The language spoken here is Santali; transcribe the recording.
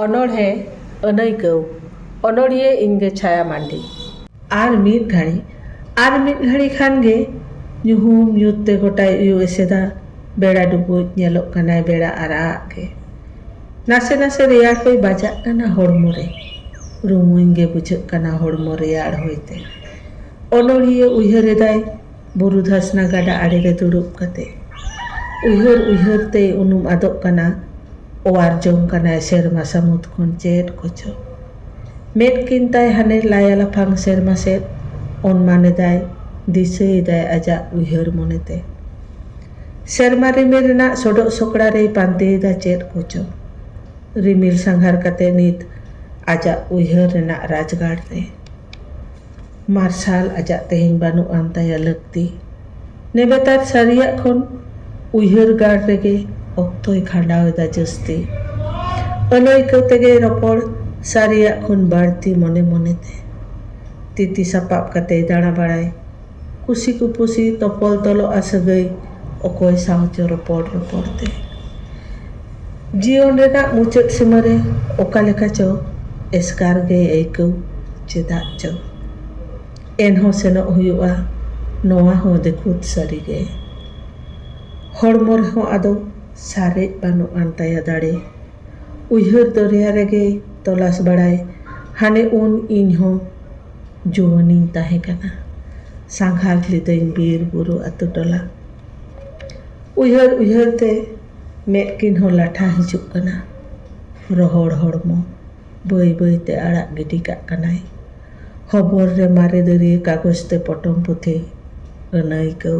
ᱚᱱᱚᱬᱦᱮ ᱟᱹᱱᱟᱹᱭᱠᱟᱹᱣ ᱚᱱᱚᱬᱦᱤᱭᱟᱹ ᱤᱧ ᱜᱮ ᱪᱷᱟᱭᱟ ᱢᱟᱱᱰᱤ᱾ ᱟᱨ ᱢᱤᱫ ᱜᱷᱟᱹᱲᱤ ᱟᱨ ᱢᱤᱫ ᱜᱷᱟᱹᱲᱤ ᱠᱷᱟᱱ ᱜᱮ ᱧᱩᱦᱩᱢ ᱧᱩᱛ ᱛᱮ ᱜᱚᱴᱟᱭ ᱩᱭᱩ ᱮᱥᱮᱫᱟ ᱵᱮᱲᱟ ᱰᱩᱵᱩᱡ ᱧᱮᱞᱚᱜ ᱠᱟᱱᱟᱭ ᱵᱮᱲᱟ ᱟᱨᱟᱜ ᱟᱜ ᱜᱮ ᱱᱟᱥᱮ ᱱᱟᱥᱮ ᱨᱮᱭᱟᱲ ᱦᱚᱭ ᱵᱟᱡᱟᱜ ᱠᱟᱱᱟ ᱦᱚᱲᱢᱚ ᱨᱮ ᱨᱩᱢᱩᱧ ᱜᱮ ᱵᱩᱡᱷᱟᱹᱜ ᱠᱟᱱᱟ ᱦᱚᱲᱢᱚ ᱨᱮᱭᱟᱲ ᱦᱚᱭ ᱛᱮ ᱚᱱᱚᱬᱦᱤᱭᱟᱹ ᱩᱭᱦᱟᱹᱨ ᱮᱫᱟᱭ ᱵᱩᱨᱩ ᱫᱷᱟᱥᱱᱟ ᱜᱟᱰᱟ ᱟᱲᱮᱨᱮ ᱫᱩᱲᱩᱵ ᱠᱟᱛᱮ᱾ ᱩᱭᱦᱟᱹᱨ ᱩᱭᱦᱟᱹᱨ ᱛᱮᱭ ᱩᱱᱩᱢ ᱟᱫᱚᱜ ᱠᱟᱱᱟ᱾ ᱚᱣᱟᱨ ᱡᱚᱝ ᱠᱟᱱᱟᱭ ᱥᱮᱨᱢᱟ ᱥᱟᱹᱢᱩᱫᱽ ᱠᱷᱚᱱ ᱪᱮᱫ ᱠᱚᱪᱚ᱾ ᱢᱮᱫ ᱠᱤᱱ ᱛᱟᱭ ᱦᱟᱱᱮ ᱞᱟᱭᱟ ᱞᱟᱯᱷᱟᱝ ᱥᱮᱨᱢᱟ ᱥᱮᱫ ᱚᱱᱢᱟᱱ ᱮᱫᱟᱭ, ᱫᱤᱥᱟᱹ ᱮᱫᱟᱭ ᱟᱡᱟᱜ ᱩᱭᱦᱟᱹᱨ ᱢᱚᱱᱮᱛᱮ᱾ ᱥᱮᱨᱢᱟ ᱨᱤᱢᱤᱞ ᱨᱮᱱᱟᱜ ᱥᱚᱰᱚᱜ ᱥᱚᱠᱲᱟ ᱨᱮᱭ ᱯᱟᱱᱛᱮ ᱮᱫᱟ ᱪᱮᱫ ᱠᱚᱪᱚ᱾ ᱨᱤᱢᱤᱞ ᱥᱟᱸᱜᱷᱟᱨ ᱠᱟᱛᱮ ᱱᱤᱛ ᱟᱡᱟᱜ ᱩᱭᱦᱟᱹᱨ ᱨᱮᱱᱟᱜ ᱨᱟᱡᱽᱜᱟᱲ ᱨᱮ᱾ ᱢᱟᱨᱥᱟᱞ ᱟᱡᱟᱜ ᱛᱮᱦᱮᱧ ᱵᱟᱹᱱᱩᱜ ᱟᱱ ᱛᱟᱭᱟ ᱞᱟᱹᱠᱛᱤ᱾ ᱱᱮᱵᱮᱛᱟᱨ ᱥᱟᱹᱨᱤᱭᱟᱜ ᱠᱷᱚᱱ ᱩᱭᱦᱟᱹᱨ ᱜᱟᱲ ᱨᱮᱜᱮ ᱚᱠᱛᱚᱭ ᱠᱷᱟᱸᱰᱟᱣ ᱮᱫᱟ ᱡᱟᱹᱥᱛᱤ᱾ ᱟᱹᱱᱟᱹᱭᱠᱟᱹ ᱛᱮᱜᱮᱭ ᱨᱚᱯᱚᱲ ᱥᱟᱹᱨᱤᱭᱟᱜ ᱠᱷᱚᱱ ᱵᱟᱹᱲᱛᱤ ᱢᱚᱱᱮ ᱢᱚᱱᱮᱛᱮ᱾ ᱛᱤᱛᱤ ᱥᱟᱯᱟᱵ ᱠᱟᱛᱮᱭ ᱫᱟᱬᱟ ᱵᱟᱲᱟᱭ᱾ ᱠᱩᱥᱤ ᱠᱩᱯᱩᱥᱤ ᱛᱚᱯᱚᱞ ᱛᱚᱞᱚᱜᱼᱟ ᱥᱟᱹᱜᱟᱹᱭ ᱚᱠᱚᱭ ᱥᱟᱶ ᱪᱚ ᱨᱚᱯᱚᱲ ᱨᱚᱯᱚᱲ ᱛᱮ ᱡᱤᱭᱚᱱ ᱨᱮᱱᱟᱜ ᱢᱩᱪᱟᱹᱫ ᱥᱤᱢᱟᱹ ᱨᱮ ᱚᱠᱟ ᱞᱮᱠᱟ ᱪᱚ ᱮᱥᱠᱟᱨ ᱜᱮᱭ ᱟᱹᱭᱠᱟᱹᱣ ᱪᱮᱫᱟᱜ ᱪᱚ ᱮᱱᱦᱚᱸ ᱥᱮᱱᱚᱜ ᱦᱩᱭᱩᱜᱼᱟ ᱱᱚᱣᱟ ᱦᱚᱸ ᱫᱤᱠᱷᱩᱛ ᱥᱟᱹᱨᱤ ᱜᱮ ᱦᱚᱲᱢᱚ ᱨᱮᱦᱚᱸ ᱟᱫᱚ ᱥᱟᱨᱮᱡ ᱵᱟᱹᱱᱩᱜ ᱟᱱ ᱛᱟᱭᱟ ᱫᱟᱲᱮ ᱩᱭᱦᱟᱹᱨ ᱫᱚᱨᱭᱟ ᱨᱮᱜᱮᱭ ᱛᱚᱞᱟᱥ ᱵᱟᱲᱟᱭ ᱦᱟᱱᱮ ᱩᱱ ᱤᱧᱦᱚᱸ ᱡᱩᱣᱟᱹᱱᱤᱧ ᱛᱟᱦᱮᱸ ᱠᱟᱱᱟ ᱥᱟᱸᱜᱷᱟᱨ ᱞᱤᱫᱟᱹᱧ ᱵᱤᱨ ᱵᱩᱨᱩ ᱟᱹᱛᱩ ᱴᱚᱞᱟ ᱩᱭᱦᱟᱹᱨ ᱩᱭᱦᱟᱹᱨ ᱛᱮ ᱢᱮᱫ ᱠᱤᱱ ᱦᱚᱸ ᱞᱟᱴᱷᱟ ᱦᱤᱡᱩᱜ ᱠᱟᱱᱟ ᱨᱚᱦᱚᱲ ᱦᱚᱲᱢᱚ ᱵᱟᱹᱭ ᱵᱟᱹᱭ ᱛᱮ ᱟᱲᱟᱜ ᱜᱤᱰᱤ ᱠᱟᱜ ᱠᱟᱱᱟᱭ ᱦᱚᱵᱚᱨ ᱨᱮ ᱢᱟᱨᱮ ᱫᱟᱹᱨᱭᱟᱹ ᱠᱟᱜᱚᱡᱽ ᱛᱮ ᱯᱚᱴᱚᱢ ᱯᱩᱛᱷᱤ ᱟᱹᱱᱟᱹᱭᱠᱟᱹᱣ